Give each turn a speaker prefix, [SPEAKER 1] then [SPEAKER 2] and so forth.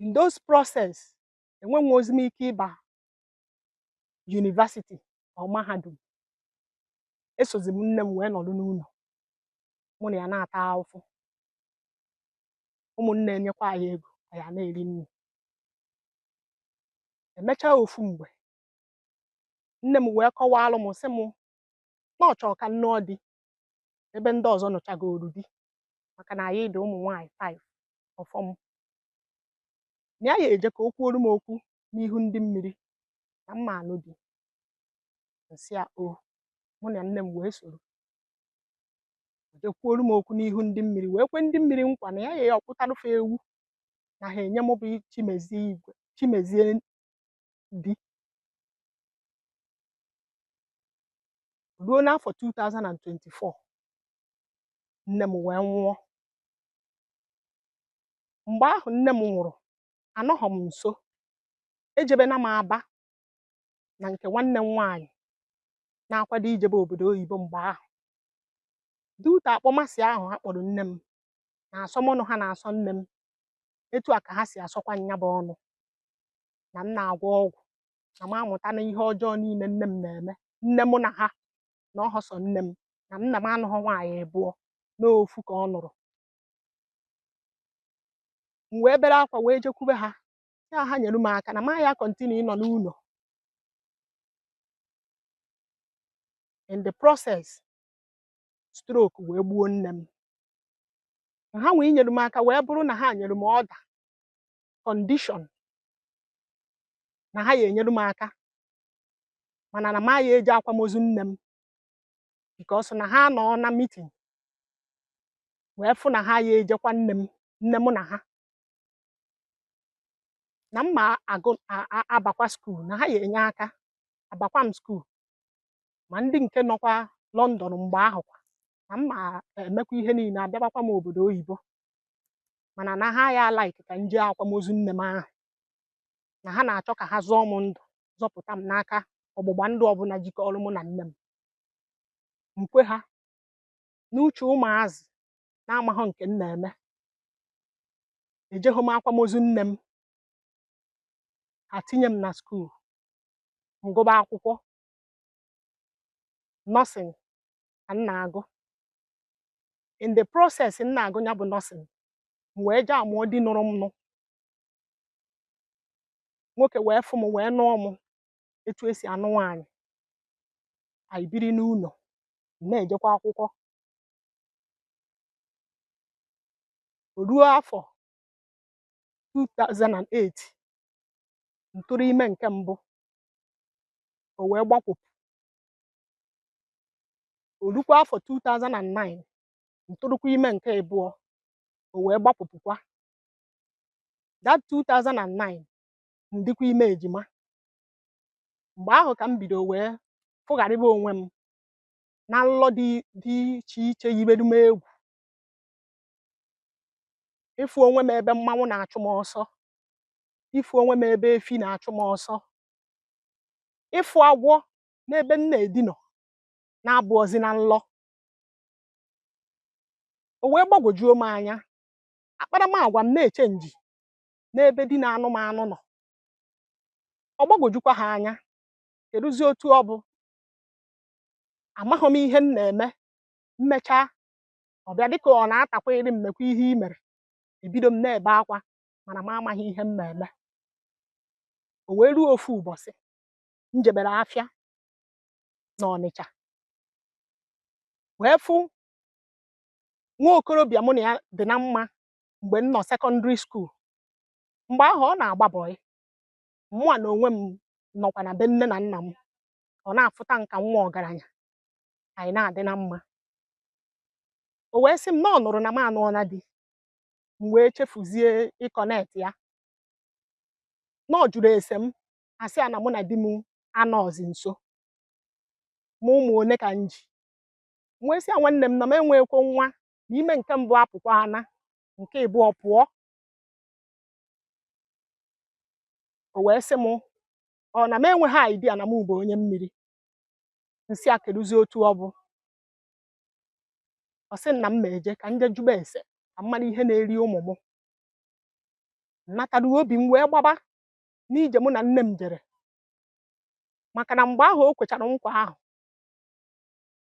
[SPEAKER 1] in those process enwenwehozi m ike ịba yunivasiti or mahadum esozi m nne m wee nọrọ n'ụlọ mụ na ya na-ata ahụhụ ụmụnne enyekwa anyị ego anyị ana-eri nri emechaa ofu mgbe nne m wee kọwalụ m sị m na ọ chọrọ ka m nụọ di ebe ndị ọzọ nụchagoru di maka na anyị dị ụmụ nwaanyị five ọ fọ m na ya eje ka o kwuoru m okwu n'ihu ndị mmiri na m ma anụ di nsị ya o mụ na nne m wee soro jee kwuoru m okwu n'ihu ndị mmiri wee kwe ndị mmiri nkwa na ya ya akpụtarụ fe ewu na ha enye m bụ chimezie igwe chimezie di ruo n'afọ 2024 nne m wee nwụọ mgbe ahụ nne m nwụrụ anọghọ m nso ejebena m aba na nke nwanne m nwaanyị na-akwado ijebe obodo oyibo mgbe ahụ due to akpọmasị ahụ ha kpọrọ nne m na asọmọnụ ha na-asọ nne m etu a ka ha si asọkwa nya bụ ọnụ na m na-agwọ ọgwụ na m amụtana ihe ọjọọ niile nne m na-eme nne mụ na ha na ọhọ sọ nne m na nna m anụghọ nwaanyị abụọ n'ofu ka ọ nụrụ m wee bere akwa wee jekwube ha sị ha ha nyere m aka na m aya kọntinu ịnọ n'ụlọ in the process stroke wee gbuo nne m ha nwee inyere m aka wee bụrụ na ha nyere m ọda kọndishọn na ha ya enyere m aka mana na m aya eje akwamozu nne m bikos na ha nọ na mitin wee fụ na ha ya eje kwa nne m nne m na ha na m ma agụ a- a- abakwa skuul na ha ya enye aka abakwa m skuul ma ndị nke nọkwa London mgbe ahụ kwa na m ma emekwa ihe niile abịabakwa m obodo oyibo mana na ha aya like ka m jee akwamozu nne m ahụ na ha na-achọ ka ha zọọ m ndụ zọpụta m n'aka ọgbụgba ndụ ọbụla jikọrọ mụ na nne m nkwe ha n'uche ụmụazị na-amaghọ nke m na-eme ejeghọ m akwamozu nne m ha tinye m na skuul ngụba akwụkwọ nọsịn ka m na-agụ in the process m na-agụ ya bụ nursing m wee jee anụọ di nụrụ m nụ nwoke wee fụ m wee nụọ m etu e si anụ nwaanyị anyị biri n'ụnọ m na-ejekwa akwụkwọ o ruo afọ 2008 m tụrụ ime nke mbụ o wee gbakwụpụ o lukwa afọ 2009 m tụrụkwa ime nke ịbụọ o wee gbapụpụkwa that 2009 m dịkwa ime ejima mgbe ahụ ka m bido wee fụgharịba onwe m na nlọ dị iche iche yibere m egwu ịfụ onwe m ebe mmanwụ na-achụ m ọsọ ịfụ onwe m ebe efi na-achụ m ọsọ ịfụ agwọ n'ebe m na-edina ọ na-abụọzi na nlọ o wee gbagwojuo m anya akparamagwa m na-echenji n'ebe di na-anụ m anụ nọ ọ gbagwojukwa ha anya keduzi otu ọ bụ amaghị m ihe m na-eme m mechaa ọ bịa dịka ọ na-atakwa iri mmekwa ihe i mere ebido m na-ebe akwa mana m amaghị ihe m na-eme o wee luo ofu ụbọsị m jebere afịa n'Ọnịcha wee fụ nwa okorobịa mụ na ya dị na mma mgbe m nọ sekọndịrị skuul mgbe ahụ ọ na-agba bọị mụwa na onwe m nọkwa na be nne na nna m ọ na-afụta m ka nwa ọgaranya anyị na-adị na mma o wee sị m na ọ nụrụ na m anụọna di m wee chefuzie ịkọnet ya na ọ jụrụ ese m asị ya na mụ na di m anọzi nso ma ụmụ one ka m ji m wee sị ya nwanne m na m enweghịkwa nwa na ime nke mbụ apụkwaana nke ịbụọ pụọ o wee sị m ọ na m enweghị idea na m bụ onye mmiri m sị a keduzi otu ọ bụ ọ sị na m ma eje ka m je jụba ese ka m malụ ihe na-eri ụmụ m natara obi m wee gbaba n'ije mụ na nne m jere maka na mgbe ahụ o kwechara nkwa ahụ